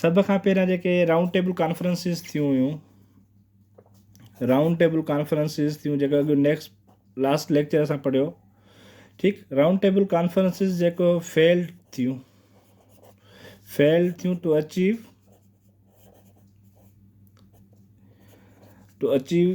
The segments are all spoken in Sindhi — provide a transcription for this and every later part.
سڀ کان پهريان جيڪي رائونڊ ٽيبل ڪانفرنسز ٿيون هيون رائونڊ ٽيبل ڪانفرنسز ٿيون جيڪا اڳ نيڪسٽ لاسٽ ليڪچر اسان پڙهيو ٺيڪ رائونڊ ٽيبل ڪانفرنسز جيڪو فيلڊ ٿيون فيلڊ ٿيون ٽو اچيو ٽو اچيو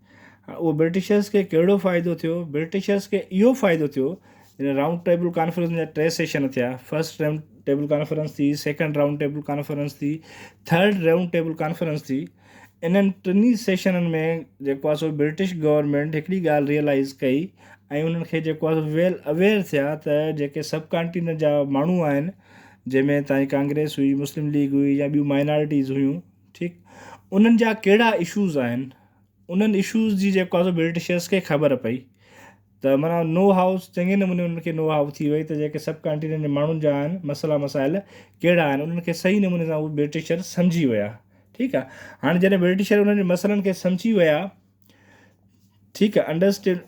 اهو برٽشرز کي ڪهڙو فائدو ٿيو؟ برٽشرز کي اهو فائدو ٿيو جڏهن رائونڊ ٽيبل ڪانفرنس جا ٽي سيشن ٿيا، فرسٽ رائونڊ ٽيبل ڪانفرنس ٿي، سيڪنڊ رائونڊ ٽيبل ڪانفرنس ٿي، ٿرڊ رائونڊ ٽيبل ڪانفرنس ٿي. انهن ٽنهي سيشنن ۾ جيڪو آهي سو برٽش گورنمينٽ هڪڙي ڳالهه ريئلائز ڪئي ۽ انهن کي جيڪو آهي سو ويل اويئر ٿيا ته جيڪي سب ڪانٽيننٽ جا ماڻهو آهن جنهن ۾ تائين ڪانگريس هئي، مسلم ليگ هئي يا ٻيون مائنارٽيز هيون ٺيڪ انهن جا ڪهڙا اشوز آهن. انهن اشوز جي جيڪو آهي سو برٽشرز کي خبر پئي ته معنيٰ نو هائو چڱي نموني انهن کي نو هائو ٿي وئي ته جيڪي سب ڪانٽيننٽ جي ماڻهن جا آهن مسئلا مسائل ڪهڙا آهن انهن کي صحيح نموني سان اهي برٽشر سمجهي ويا ٺيڪ آهي هاڻي جڏهن برٽشر انهن جي مسئلن کي سمجهي ويا ٺيڪ آهي انڊرسٽينڊ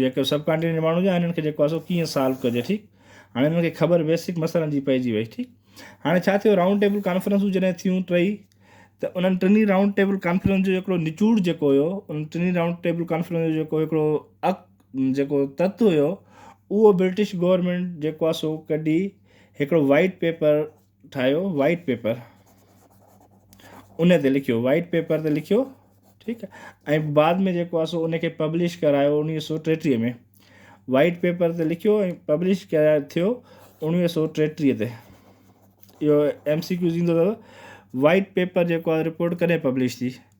جيڪو سب ڪانٽينينٽ جي ماڻهو جا هنن کي جيڪو آهي سو ڪيئن سالو ڪجي ٺيڪ هاڻي هنن کي خبر بيسڪ مسئلن جي پئجي وئي ٺيڪ هاڻي ڇا ٿيو رائونڊ ٽيبل ڪانفرنسون جڏهن ٿيون ٽئي ته انهن ٽنهي رائونڊ ٽيبل ڪانفرنس جو هڪڙو نچوڙ جيڪو هيو انهن ٽنهي رائونڊ ٽيبل ڪانفرنس جو جيڪو هڪڙو اڪ جيڪو تت هيو اهو برٽش گورنمينٽ جيڪو آهي سو ڪڍي هڪڙو وائيٽ پيپر ٺاهيو وائيٽ پيپر ان تي لکيو وائيٽ پيپر تي لکيو ٺيڪ آهي ۽ بعد ۾ جيڪو آسو ان کي پبلش ڪرايو انيوي سو ٽيٽيهه ۾ وائيٽ پيپر تي لکيو ۽ پبلش ڪرايو ٿيو انيوي سو ٽيٽيهه تي اهو ايم سي ڪيوز ايندو اٿو وائيٽ پيپر جيڪو آهي رپورٽ ڪڏهن پبلش ٿي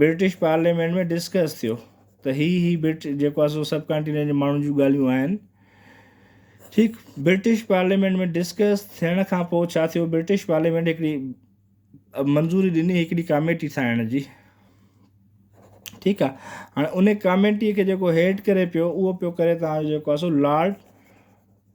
برٽش پارليامينٽ ۾ ڊسڪس ٿيو ته هي هي برٽ جيڪو آسو سب ڪانٽينينٽ جي ماڻهن جون ڳالهيون آهن ٺيڪ برٽش پارليامينٽ ۾ ڊسڪس ٿيڻ کان پوء ڇا ٿيو برٽش پارليامينٽ هڪڙي منظوري ڏني هڪڙي ڪاميٽي ٺاهڻ جي ٺيڪ آهي هاڻي ان ڪاميٽي کي جيڪو هيڊ ڪري پيو اهو پيو ڪري تان جيڪو آسو لارڊ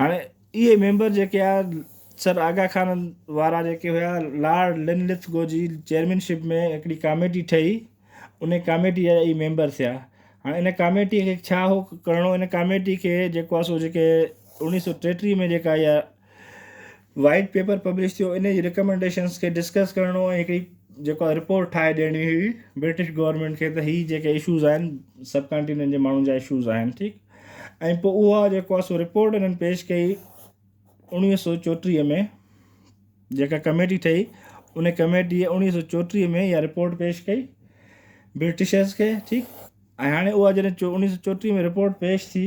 هاڻي اهي ميمبر جيڪي آ سر آغا خان وارا جيڪي هيا لارڊ لنلٿ گو جي چيئرمينشپ ۾ هڪڙي ڪاميٽي ٺهي ان ڪاميٽي جا اي ميمبر ٿيا هاڻي ان ڪاميٽي کي ڇا هو ڪرڻو ان ڪاميٽي کي جيڪو آ سو جيڪي اوڻيهه سو ٽيٽيهه ۾ جيڪا اها وائيٽ پيپر پبلش ٿيو ان جي رڪمنڊيشنس کي ڊسڪس ڪرڻو ۽ هڪڙي جيڪو رپورٽ ٺاهي ڏيڻي هئي برٽش گورنمينٽ کي ته هي جيڪي اشوز آهن سب ڪانٽيننٽ جي ماڻهن جا اشوز آهن ٺيڪ ۽ پوء اها جيڪو آهي سو رپورٽ انهن پيش ڪئي اڻويهه سو چوٽيهه ۾ جيڪا ڪميٽي ٺهي ان ڪميٽي اڻويهه سو چوٽيهه ۾ اها رپورٽ پيش ڪئي برٽشرس کي ٺيڪ ۽ هاڻي اها جڏهن اڻويهه سو چوٽيهه ۾ رپورٽ پيش ٿي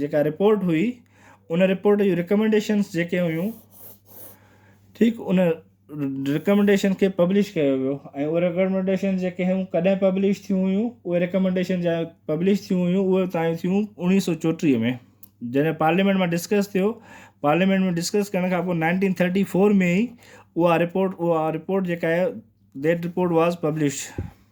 جيڪا رپورٽ هئي ان رپورٽ جون رڪمينڊيشنس جيڪي هيون ٺيڪ ان رڪمينڊيشن کي پبلش ڪيو ويو ۽ اهي رڪمينڊيشن جيڪي هيون ڪڏهن پبلش ٿيون هيون اهي رڪمينڊيشن جا پبلش ٿيون هيون اهي تائين ٿيون اوڻيهه سو چوٽيهه ۾ جڏهن پارليامينٽ مان ڊسڪس ٿيو پارليامينٽ ۾ ڊسڪس ڪرڻ کان پوء نائنٽين ٿرٽي فور ۾ ئي اها رپورٽ اها رپورٽ جيڪا آهي ديٽ رپورٽ واز پبلشڊ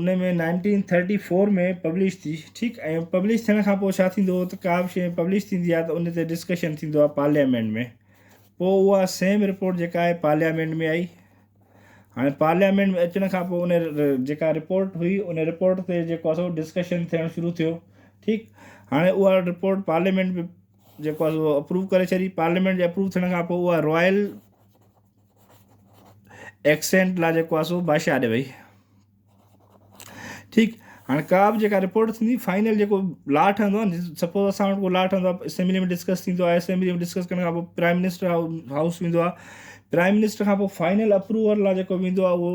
ان ۾ نائنٽين ٿرٽي فور ۾ پبلش ٿي ٺيڪ ۽ پبلش ٿيڻ کان پوء ڇا ٿيندو هو ته ڪا به شيء پبلش ٿيندي آهي ته ان تي ڊسڪشن ٿيندو آهي پارليامينٽ ۾ پوء اها سيم رپورٽ جيڪا آهي پارليامينٽ ۾ آئي هاڻي پارليامينٽ ۾ اچڻ کان پوء ان جيڪا رپورٽ هئي ان رپورٽ تي جيڪو سو ڊسڪشن ٿيڻ شروع ٿيو ٺيڪ هاڻي اها رپورٽ پارليامينٽ به جيڪو سو اپروو ڪري ڇڏي پارليامينٽ جي اپروو ٿيڻ کان پوء اها رائل ايڪسينٽ لا جيڪو آ سو بادشاهه آڏي وئي ٺيڪ هاڻي ڪا به جيڪا رپورٽ ٿيندي فائنل جيڪو لا ٺهندو آهي سپوز اسان وٽ ڪو لا ٺهندو آهي اسيمبلي ۾ ڊسڪس ٿيندو آهي اسيمبلي ۾ ڊسڪس ڪرڻ کان پوء پرائم منسٽر هائوس ويندو آهي پرائم منسٽر کان پوء فائنل اپروول لا جيڪو ويندو آهي اهو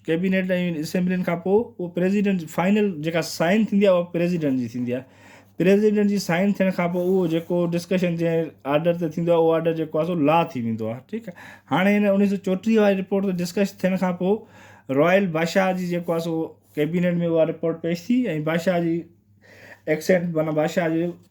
ڪيبينيٽ ۽ اسيمبلين کان پوء اهو پريزيڊنٽ جي فائنل جيڪا سائن ٿيندي آهي اها پريزيڊنٽ جي ٿيندي آهي پريزيڊنٽ جي سائن ٿيڻ کان پوء اهو جيڪو ڊسڪشن جنهن آرڊر تي ٿيندو آهي اهو آرڊر جيڪو آهي سو لا ٿي ويندو آهي ٺيڪ آهي هاڻي هن اڻيهه سو چوٽيهه واري رپورٽ تي ڊسڪس ٿيڻ کان پوء رائل بادشاهه جي جيڪو آهي سو ڪيبينيٽ ۾ اها رپورٽ پيش ٿي ۽ بادشاهه جي ايڪسينٽ معنيٰ بادشاهه جي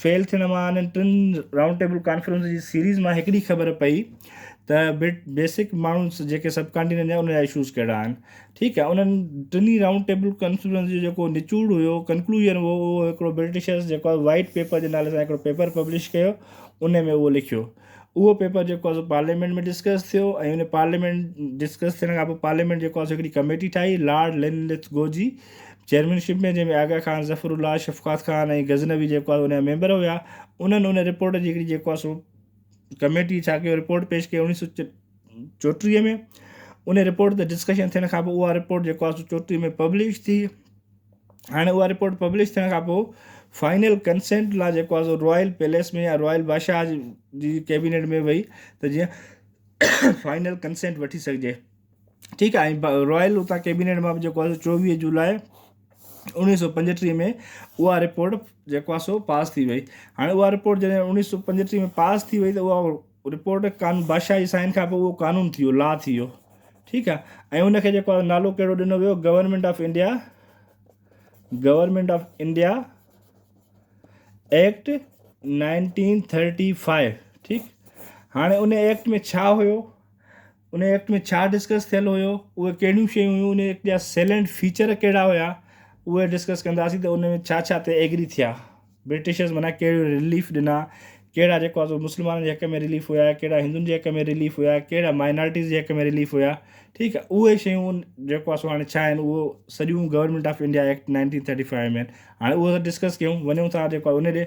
فيل ٿيڻ مان انهن ٽن رائونڊ ٽيبل ڪانفرنس جي سيريز مان هڪڙي خبر پئي ته بيسڪ ماڻهو جيڪي سب ڪانٽيننٽ جا ان جا اشوز ڪهڙا آهن ٺيڪ آهي انهن ٽنهي رائونڊ ٽيبل ڪانفرنس جو جيڪو نچوڙ هيو ڪنڪلوجن هو اهو هڪڙو برٽشرز جيڪو وائيٽ پيپر جي نالي سان هڪڙو پيپر پبلش ڪيو ان ۾ اهو لکيو اهو پيپر جيڪو آهي سو پارليامينٽ ۾ ڊسڪس ٿيو ۽ ان پارليامينٽ ڊسڪس ٿيڻ کان پوء پارليامينٽ جيڪو آهي سو هڪڙي ڪميٽي ٺاهي لارڊ لين لٿ گو جي چيئرمين شپ ۾ جنهن ۾ آغا خان ظفر الله شفقات خان ۽ غزنوي جيڪو آهي ان جا ميمبر هيا انهن ان رپورٽ جي هڪڙي جيڪو آهي سو ڪميٽي ڇا ڪيو رپورٽ پيش ڪئي اڻيهه سو چوٽيهه ۾ ان رپورٽ تي ڊسڪشن ٿيڻ کان پوء اها رپورٽ جيڪو آهي سو چوٽيهه ۾ پبلش ٿي هاڻي اها رپورٽ پبلش ٿيڻ کان پوء فائنل ڪنسينٽ لا جيڪو آهي سو رائل پيليس ۾ يا رائل بادشاهه جي ڪيبينيٽ ۾ وئي ته جيئن فائنل ڪنسينٽ وٺي سگهجي ٺيڪ آهي ۽ رائل اتان ڪيبينيٽ مان به جيڪو آهي سو چوويهه جولاء اوڻيهه سو پنجٽيهه ۾ اها رپورٽ جيڪو آهي سو پاس ٿي وئي هاڻي اها رپورٽ جڏهن اوڻيهه سو پنجٽيهه ۾ پاس ٿي وئي ته اها رپورٽ قانون بادشاهي سائين کان پوء اهو قانون ٿي ويو، Law، ٿي ويو ٺيڪ آ ۽ ان کي جيڪو آ نالو ڪهڙو ڏنو ويو government of India government of India act nineteen thirty five ٺيڪ هاڻي ان ايڪٽ ۾ ڇا هيو انهيء ايڪٽ ۾ ڇا ڊسڪس ٿيل هيو، اهي ڪهڙيون شيون هيون، انهيء ايڪٽ جا سيلنٽ فيچر ڪهڙا هيا، اهي ڊسڪس ڪنداسين ته ان ۾ ڇا ڇا تي ايگري ٿيا، برٽشرز منان ڪهڙيون رليف ڏنا، ڪهڙا جيڪو آهي سو مسلمانن جي حق ۾ رليف هيا، ڪهڙا هندن جي حق ۾ رليف هيا، ڪهڙا مائنارٽيز جي حق ۾ رليف هيا، ٺيڪ آهي اهي شيون جيڪو آهي سو هاڻي ڇا آهن اهو سڄيون government of India act nineteen thirty five ۾ آهن، هاڻي اهو ته ڊسڪس ڪيون، وڃون ٿا جيڪو آهي ان ڏي.